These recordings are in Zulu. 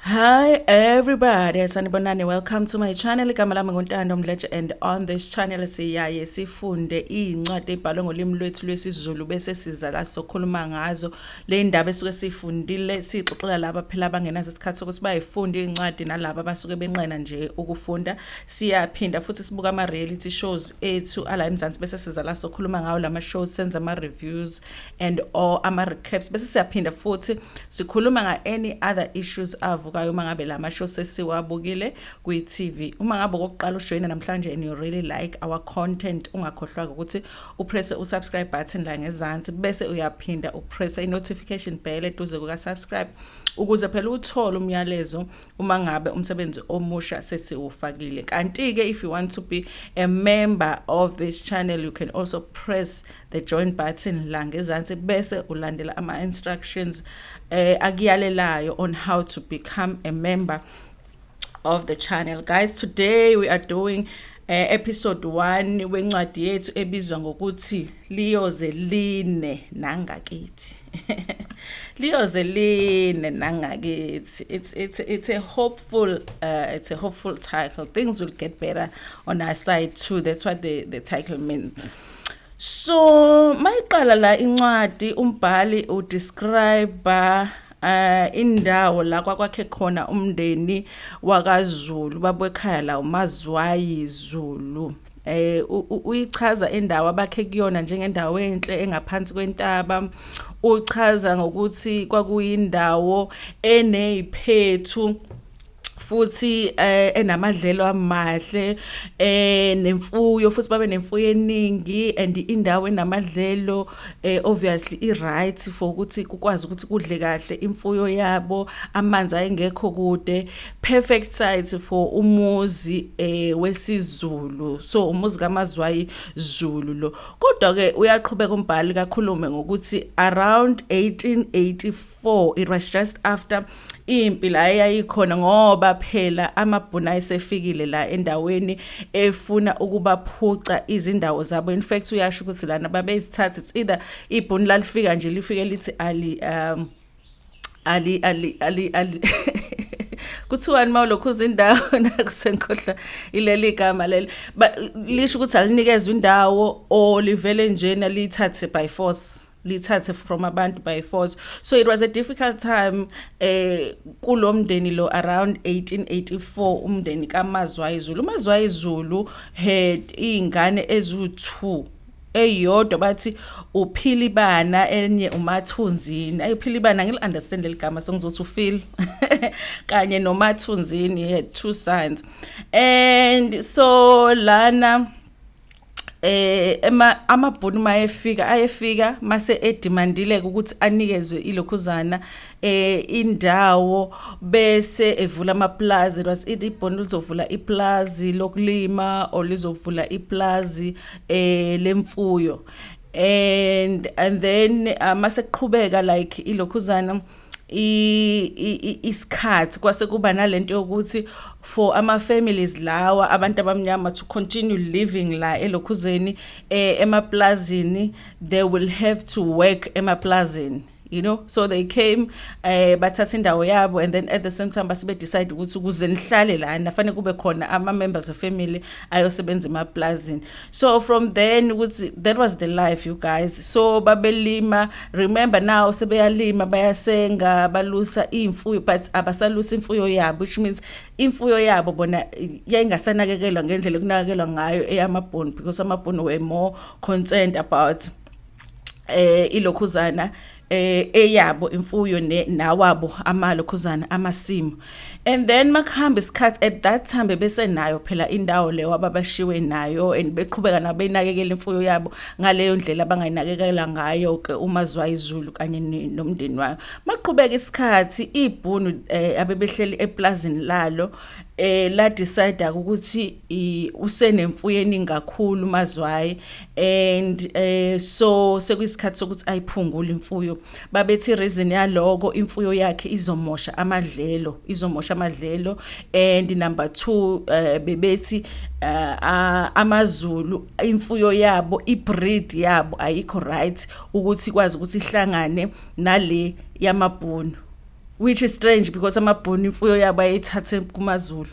Hi everybody, sanibonani. Welcome to my channel. Igama lami nguNtando Mdletshe and on this channel siyaye sifunde incwadi ebhalwe ngolimi lwethu lwesiZulu bese siza la sokhuluma ngazo. Le ndaba esuke sifundile sixoxela laba phela abangenaso isikhathi sokuthi bayifunde incwadi nalabo abasuke benqena nje ukufunda. Siyaphinda futhi sibuka ama reality shows ethu ala eMzansi bese siza la sokhuluma ngawo lama shows senza ama reviews and or ama recaps bese siyaphinda futhi sikhuluma nga any other issues avukayo uma ngabe lama show sesiwabukile kwi TV uma ngabe kokuqala ujoyina namhlanje and you really like our content ungakhohlwa ukuthi upress u subscribe button la ngezansi bese uyaphinda upress i notification bell eduze kuka subscribe ukuze phela uthole umyalezo uma ngabe umsebenzi omusha sesiwufakile kanti ke if you want to be a member of this channel you can also press the join button la ngezansi bese ulandela ama-instructions eh, akuyalelayo on how to become a member of the channel guys today we are doing eh, episode 1 wencwadi yethu ebizwa ngokuthi liyoze line nangakithi liyoze line nangakithi it's it's it's a hopeful uh, it's a hopeful title things will get better on our side too that's what the the title means so mayiqala la incwadi umbhali udescribe eh indawo la kwakwakhe khona umndeni wakaZulu babekhaya la uMazwayi Zulu eh uyichaza indawo abakhe kuyona njengendawo enhle engaphansi kwentaba uchaza ngokuthi kwakuyindawo eneziphethu futhi eh, enamadlelo amahle eh nemfuyo futhi babe nemfuyo eningi and indawo enamadlelo eh obviously i right for ukuthi kukwazi ukuthi kudle kahle imfuyo yabo amanzi ayengekho kude perfect site for umuzi eh wesiZulu so umuzi kaMazwayi Zulu lo kodwa ke uyaqhubeka umbhali kakhulume ngokuthi around 1884 4 it was just after impi la eyayikhona ngoba phela amabhunu ayesefikile la endaweni efuna ukubaphuca izindawo zabo in fact uyasho ukuthi lana babezithatha it's either ibhunu lalifika nje lifike lithi ali um ali ali ali ali kuthiwani mawulokhu uzindawo nakusenkhohla ileli igama leli lisho ukuthi alinikezwe indawo or livele njena liyithathe by force lithathe from abantu by force so it was a difficult time eh kulomndeni lo around 1884 umndeni kaMazwayizulu uMazwayizulu had ingane ezu2 eyodwa bathi uphilibana enye umathunzini ayiphilibana ngil understand leligama sengizothi ufeel kanye nomathunzini he had two sons and so lana eh ema amabhunu mayefika ayefika mase edemandile ukuthi anikezwe ilokhuzana eh indawo bese evula amaplazi was it ibhunu lizovula iplazi lokulima or lizovula iplazi eh lemfuyo and and then uh, mase kuqhubeka like ilokhuzana isikhathi kwase kuba nalento yokuthi for ama families lawa abantu abamnyama to continue living la elokhuzeni eh, emaplazini they will have to work emaplazini you know so they came eh bathatha indawo yabo and then at the same time base decide ukuthi kuze nihlale la nafanele kube khona ama members of family ayosebenza emaplazini so from then ukuthi that was the life you guys so babelima remember now sebeyalima bayasenga balusa imfuyo but abasalusa imfuyo yabo which means imfuyo yabo bona yayingasanakekelwa ngendlela kunakekelwa ngayo eyamabhoni because amabhoni were more concerned about eh ilokhuzana eh eyabo imfuyo ne nawabo amalo khuzana amasimu and then makuhamba isikhathi at that time bebesenayo phela indawo leyo ababashiwe nayo and beqhubeka nabenakekela imfuyo yabo ngaleyo ndlela abangayinakekela ngayo ke uma zwa izulu kanye nomndeni wayo maqhubeka isikhathi ibhunu eh, abebehleli eplazini lalo eh la decide ukuthi usenemfuyo eningi kakhulu mazwayi and eh so sekuyisikhathi sokuthi ayiphungule imfuyo babethi reason yaloko imfuyo yakhe izomosha amadlelo izomosha amadlelo and number 2 uh, eh, bebethi uh, amazulu imfuyo yabo ibreed yabo ayikho right ukuthi kwazi ukuthi ihlangane nale yamabhunu which is strange because amabhoni imfuyo yabo ayithathe kumaZulu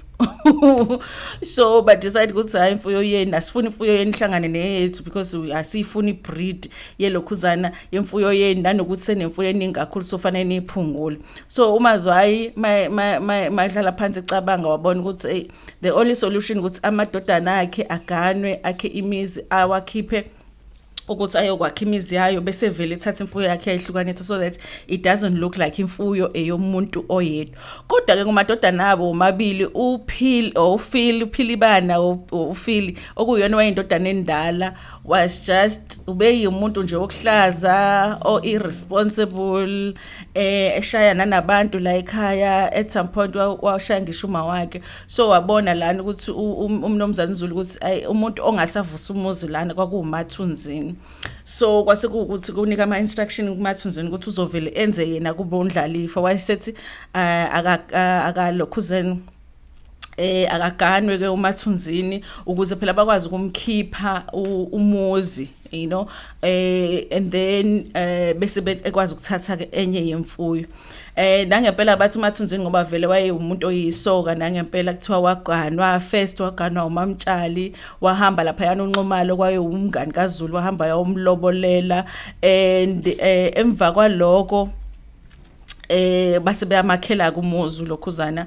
so but decide ukuthi hayi imfuyo yenu asifuni imfuyo yenu ihlangane neyethu because asiyifuni ibreed yelokhuzana yemfuyo yenu nanokuthi senemfuyo eningi kakhulu sofanele niyiphungule so umazwayi madlala phansi icabanga wabona ukuthi hey the only solution ukuthi amadodana akhe aganwe akhe imizi awakhiphe ukuthi ayokwakha imizi yayo bese vele ethatha imfuyo yakhe yayihlukanisa so that it doesn't look like imfuyo eyomuntu oyedwa kodwa ke ngomadodana abo omabili uphil ofil uphilibana ofil okuyona wayendodana endala was just ubeyimuntu nje okuhlaza o irresponsible eh eshaya nanabantu la ekhaya at some point washaya ngisho uma wakhe so wabona lana ukuthi um, umnomzane Zulu ukuthi ay umuntu ongasavusa umuzi lana kwakuwumathunzini so kwase kuwukuthi kunika ama instruction kumathunzini ukuthi uzovele enze yena kube undlalifa wayesethi ah, akalokhuzeni aka, eh akaganwe ke umathunzini ukuze phela bakwazi ukumkhipha umuzi you know eh and then eh bese bekwazi ukuthatha ke enye yemfuyo eh nangempela bathi uMathunzini ngoba vele wayewumuntu oyisoka nangempela kuthiwa waganwa first waganwa uMamtshali wahamba lapha yana unxumalo kwaye umngani kaZulu wahamba yawumlobolela and eh emva kwaloko eh base beyamakhela kumuzu lokhuzana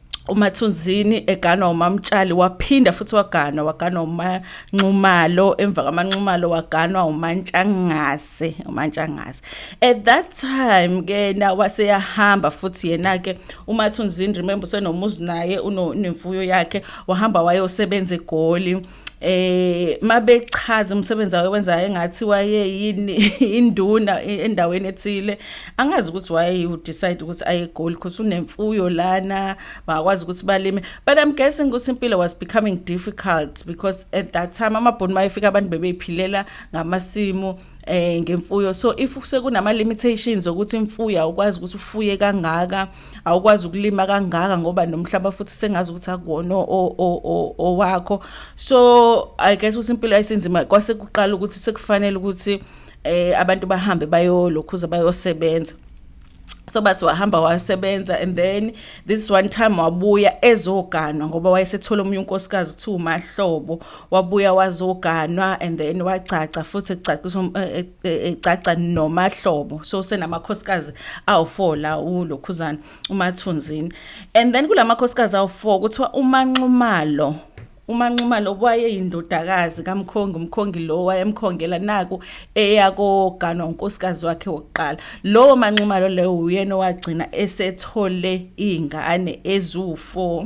uMathunzini eganwa uMamtshali waphinda futhi waganwa waganwa uManxumalo emva kaManxumalo waganwa uMantshangase uMantshangase at that time ke na waseyahamba futhi yena ke uMathunzini remember senomuzi naye unemfuyo yakhe wahamba wayosebenza eGoli eh mabechaza umsebenzi awenzayo engathi waye yini induna endaweni ethile angazi ukuthi waye u decide ukuthi aye goal because unemfuyo lana bakwazi ukuthi balime but i'm guessing ukuthi impilo was becoming difficult because at that time amabhoni mayefika abantu bebephilela ngamasimu eh ngemfuyo so if sekunama limitations ukuthi imfuyo ukwazi ukuthi ufuye kangaka awukwazi ukulima kangaka ngoba nomhlaba futhi sengazi ukuthi akuwona owakho so i guess ukuthi impilo yayisinzima kwase kuqala ukuthi sekufanele ukuthi eh abantu bahambe bayolokhuza bayosebenza so bathi wahamba wasebenza and then this one time wabuya ezoganwa ngoba wayesethole omunye unkosikazi kuthiwa umahlobo wabuya wazoganwa and then wagcagca futhi kucaciswa eh, eh, egcagca e, nomahlobo so senamakhosikazi awu4 la ulokhuzana umathunzini and then kulamakhosikazi awu4 kuthiwa umanxumalo umanxumalo wayeyindodakazi kamkhongi umkhongi lo wayemkhongela naku eyakoganwa unkosikazi wakhe wokuqala lowo manxumalo leyo uyena owagcina esethole iy'ngane eziwu-four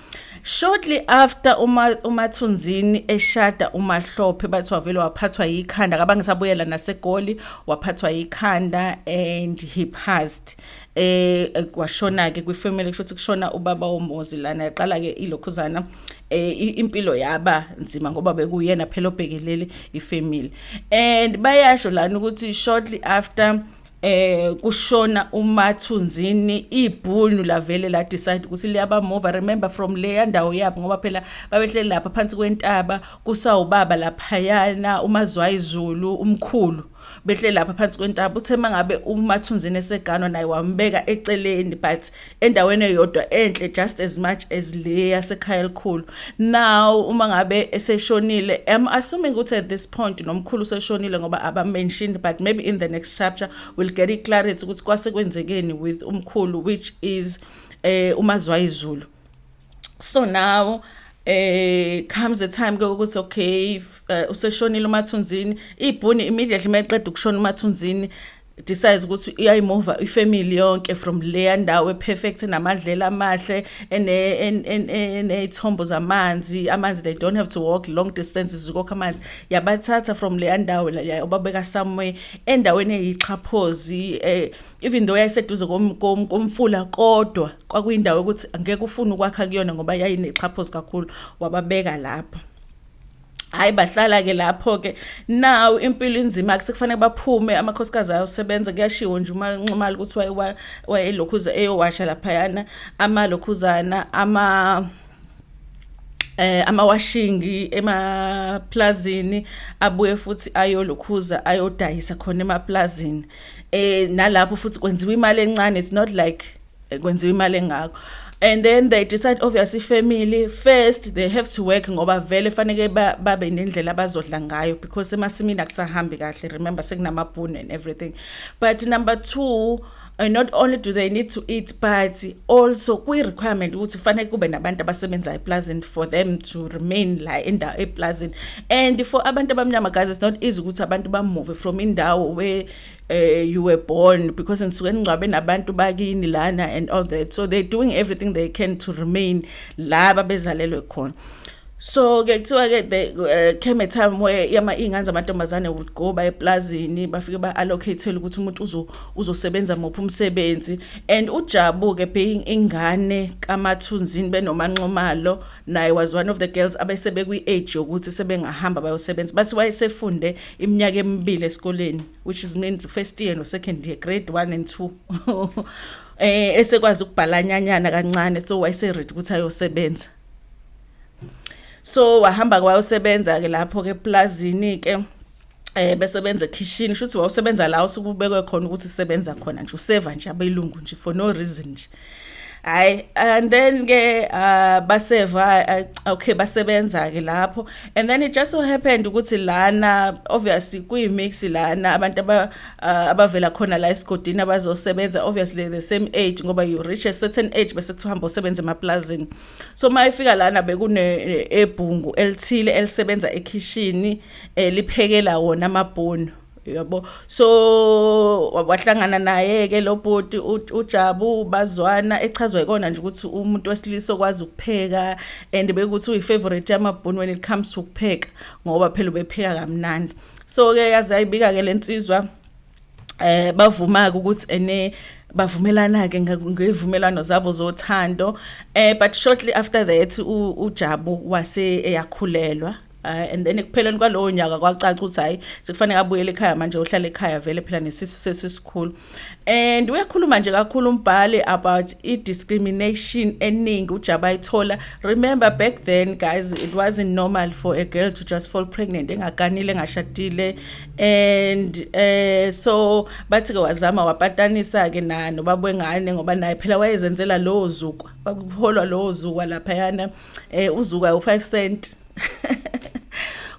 Shortly after uma uMathunzini eshada uMahlophe bathi wavele waphathwa yikhanda kabange sabuyela naseGoli waphathwa yikhanda and he passed eh, eh kwashona ke kwifamily kusho ukuthi kushona ubaba womuzi lana yaqala ke ilokhuzana eh impilo yaba nzima ngoba bekuyena phela obhekelele ifamily and bayasho lana ukuthi shortly after eh kushona umathunzini ibhunu lavele la decide ukuthi liyaba move remember from leya ndawo yabo ngoba phela babehleli lapha phansi kwentaba kusawubaba laphayana umazwayizulu umkhulu behleli lapha phansi kwentaba uthe mangabe umathunzini eseganwa naye wambeka eceleni but endaweni eyodwa enhle just as much as le yasekhaya elikhulu now uma ngabe eseshonile am assuming ukuthi at this point nomkhulu seshonile ngoba aba mentioned but maybe in the next chapter we'll get it clarity ukuthi kwase kwenzekeni with umkhulu which is eh umazwayizulu so now eh comes the time ke ukuthi okay eh, useshonile umathunzini ibhuni immediately mayeqeda ukushona umathunzini decides ukuthi uyayimova ifamily yonke from leya ndawo eperfect enamadlela amahle eney'thombo zamanzi amanzi they don't have to walk long distances ukokha amanzi yabathatha from leya ndawo yababeka somewhere endaweni eyixhaphozi um even though yayiseduze komfula kodwa kwakuyindawo yokuthi angeke ufune ukwakha kuyona ngoba yayinexhaphozi kakhulu wababeka lapho hayi bahlala-ke lapho-ke nawu impilo inzima kusekufanele baphume amakhosikazi ayosebenza kuyashiwo nje uma nxumali ukuthi wayelokhuza eyowasha laphayana amalokhuzana ama eh amawashingi emaplazini abuye futhi ayolukhuza ayodayisa khona emaplazini eh nalapho futhi kwenziwa imali encane it's not like eh, kwenziwa imali engako and then they decide obviously family first they have to work ngoba vele faneke babe nendlela abazodla ngayo because emasimini akusahambi kahle remember sekunamabhunu and everything but number 2 and not only do they need to eat but also kwi requirement ukuthi fanele kube nabantu abasebenza eplazini for them to remain la endawo eplazini and for abantu abamnyama guys it's not easy ukuthi abantu bamove from indawo where uh, you were born because ngisuke ngcwabe nabantu bakini lana and all that so they're doing everything they can to remain la babezalelwe khona so ke kuthiwa ke the uh, came a time where yama ingane zamantombazane would go by eplazini bafike ba allocate ukuthi umuntu uzo uzosebenza mophi umsebenzi and ujabu ke being ingane kamathunzini benomanxomalo naye was one of the girls abese bekwi-age yokuthi sebengahamba bayosebenza bathi wayesefunde iminyaka emibili esikoleni which is means first year no-second year grade one and two eh esekwazi ukubhalanyanyana kancane so wayeseready ukuthi ayosebenza so wahamba kwayosebenza-ke lapho-ke eplazini-ke eh bese benza ekhishini shuthi wawusebenza la usukubekwe khona ukuthi sebenza khona nje useva nje abelungu nje for no reason nje hayi and then ke uh, baseva uh, okay basebenza ke lapho and then it just so happened ukuthi lana obviously kuyi mix lana abantu aba uh, abavela khona la esigodini abazosebenza obviously the same age ngoba you reach a certain age bese kuhamba usebenza emaplazini so mayifika lana bekune ebhungu elithile elisebenza ekhishini eh, eh liphekela wona amabhunu yabo so wahlangana naye ke lo bhuti uJabu bazwana echazwa ikona nje ukuthi umuntu wesilisa okwazi ukupheka and bekuthi uyifavorite yamabhunu when it comes to ukupheka ngoba phela ubepheka kamnandi so ke yazi ayibika ke lensizwa eh bavuma ukuthi ene bavumelana ke ngevumelwano zabo zothando eh but shortly after that uJabu wase eyakhulelwa Uh, and then ekupheleni kwalowo nyaka kwacaca ukuthi hayi sekufanele abuyele ekhaya manje uhlala ekhaya vele phela nesisu sesisikhulu and uyakhuluma nje kakhulu umbhali about i-discrimination eningi ujaba ayithola remember back then guys it wasn't normal for a girl to just fall pregnant engaganile engashadile and eh so bathi ke wazama wapatanisa ke na nobaba wengane ngoba naye phela wayezenzela lowo zukwa kwakuholwa lowo zukwa lapha yana eh uzukwa u5 cent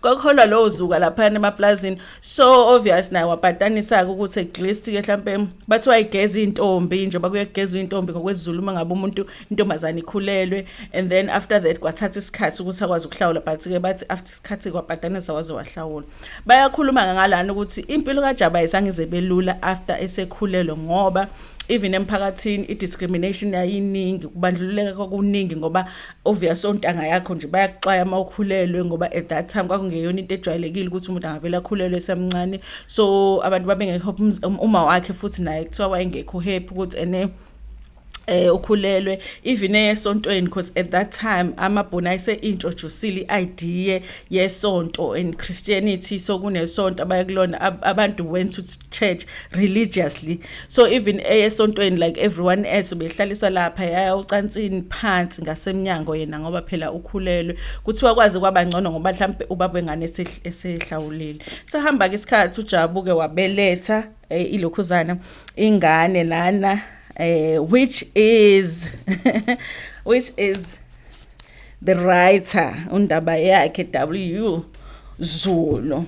kwakuholwa lowo zuka lapha emaplazini so obvious naye wapatanisa ukuthi at least ke mhlambe bathi wayigeza intombi nje bakuyegeza intombi ngokwezulu uma ngabe umuntu intombazana ikhulelwe and then after that kwathatha isikhathi ukuthi akwazi ukuhlawula but ke bathi after isikhathi kwapatanisa waze wahlawula bayakhuluma ngalana ukuthi impilo kaJaba ayisangize belula after esekhulelwe ngoba even emphakathini i-discrimination yayiningi kubandlululeka kwakuningi ngoba obvious ontanga yakho nje bayakuxwaya uma ukhulelwe ngoba at that time kwakungeyona into ejwayelekile ukuthi umuntu angavele akhulelwe esemncane so abantu babengekho um, uma wakhe futhi naye kuthiwa wayengekho happy ukuthi ene eh ukhulelwe even esontweni because at that time amabhona ise introduce iidea yesonto in Christianity so kunesonto abayakulona abantu went to church religiously so even esontweni like everyone else behlaliswa lapha yaya ucansini phansi ngasemnyango yena ngoba phela ukhulelwe kuthiwa kwazi kwabangcono ngoba mhlambe ubaba engane esehlawulile sahamba ke isikhathi ujabuke wabeletha eh, ilokhuzana ingane lana eh, which is which is the writer undaba yakhe w zulu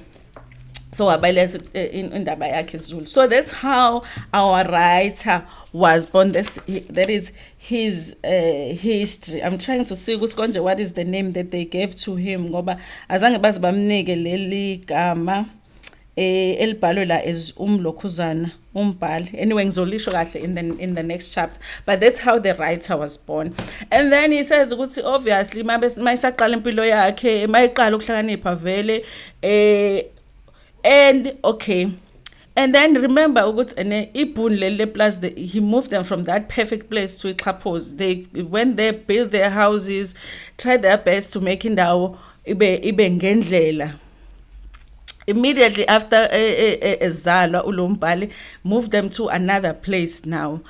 so wabalesa eh, indaba yakhe zulu so that's how our writer was born this that is his uh, history i'm trying to see ukuthi konje what is the name that they gave to him ngoba azange baze bamnike leli gama eh elibhalwe la as umlokhuzana umbhali anyway ngizolisho kahle in the in the next chapter but that's how the writer was born and then he says ukuthi obviously mayisaqala impilo yakhe mayiqala ukuhlakanipha vele eh and okay and then remember ukuthi ene ibhuni leli leplus he moved them from that perfect place to ixhaphozi they went there built their houses tried their best to make indawo ibe ibe ngendlela immediately after ezalwa eh, eh, eh, ulombhali move them to another place now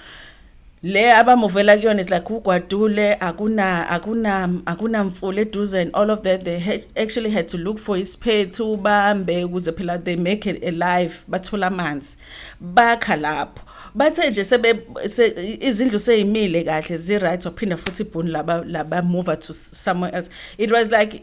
le abamuvela kuyona is like ugwadule akuna akuna akunamfula eduze and all of that they had, actually had to look for isiphethu ubambe ukuze phela they make it alive bathola amanzi bakha lapho bathe nje sebe izindlu seyimile kahle zi right waphinda futhi ibhuni laba laba move to somewhere else it was like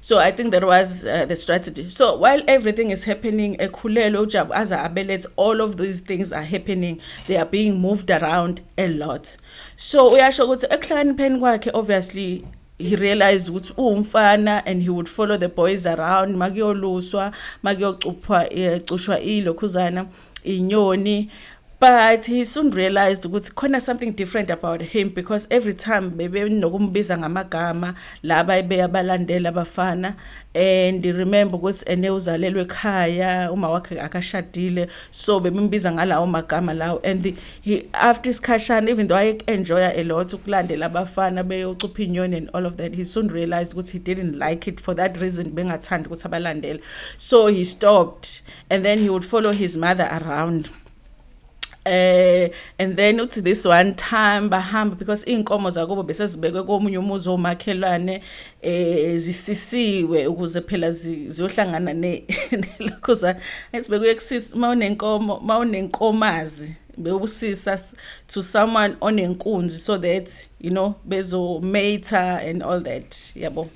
So I think that was uh, the strategy. So while everything is happening, Ekhulelo Jabu as Abelet, all of these things are happening. They are being moved around a lot. So uyasho ukuthi ekuhlakanipheni kwakhe obviously he realized ukuthi uwumfana and he would follow the boys around makuyoluswa makuyocuphwa eh, cushwa ilokhuzana inyoni but he soon realized ukuthi khona something different about him because every time bebenokumbiza ngamagama laba ebeyabalandela abafana and remember ukuthi ene uzalelwe ekhaya uma wakhe akashadile so bebimbiza ngalawo magama lawo and the, he, after isikhashana even though i enjoy a lot ukulandela abafana beyocupha inyoni and all of that he soon realized ukuthi he didn't like it for that reason bengathandi ukuthi abalandele so he stopped and then he would follow his mother around eh and then uthi this one time bahamba because inkomo zakubo bese zibekwe komunye umuzi omakhelwane eh zisisiwe ukuze phela ziyohlangana ne lokho za esibekwe kusisi mawunenkomo mawunenkomazi bewusisa to someone onenkunzi so that you know bezo mater and all that yabo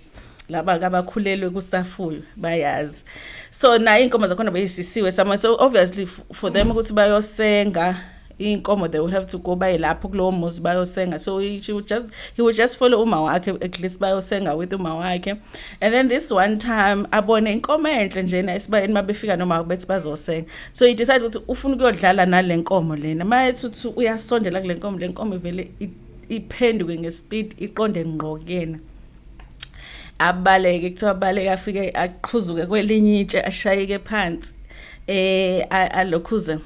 laba kabakhulelwe kusafuyo bayazi so naye inkomo zakhona beyisisiwe somewhere so obviously for them ukuthi bayosenga inkomo they will have to go baye lapho kulowo muzi bayosenga so he, she would just, he would just follow uma wakhe at least bayosenga with uma wakhe and then this one time abone inkomo enhle njena esibayeni uma befika noma bethi bazosenga so he decide ukuthi ufuna ukuyodlala nale nkomo lena uma ethi uthi uyasondela kule nkomo le nkomo ivele iphenduke ngespeed iqonde ngqo kuyena abaleke kuthiwa abaleke afike aqhuzuke kwelinye itshe ashayeke phansi eh alokhuze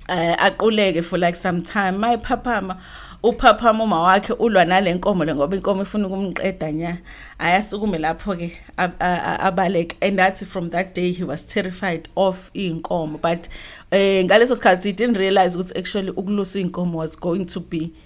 eh, aquleke for like some time mayiphaphama uphaphama uma wakhe ulwa nalenkomo le ngoba inkomo ifuna ukumqeda nya ayasukume lapho ke abaleke and that's from that day he was terrified of inkomo but eh ngaleso sikhathi he didn't realize ukuthi actually ukulusa inkomo was going to be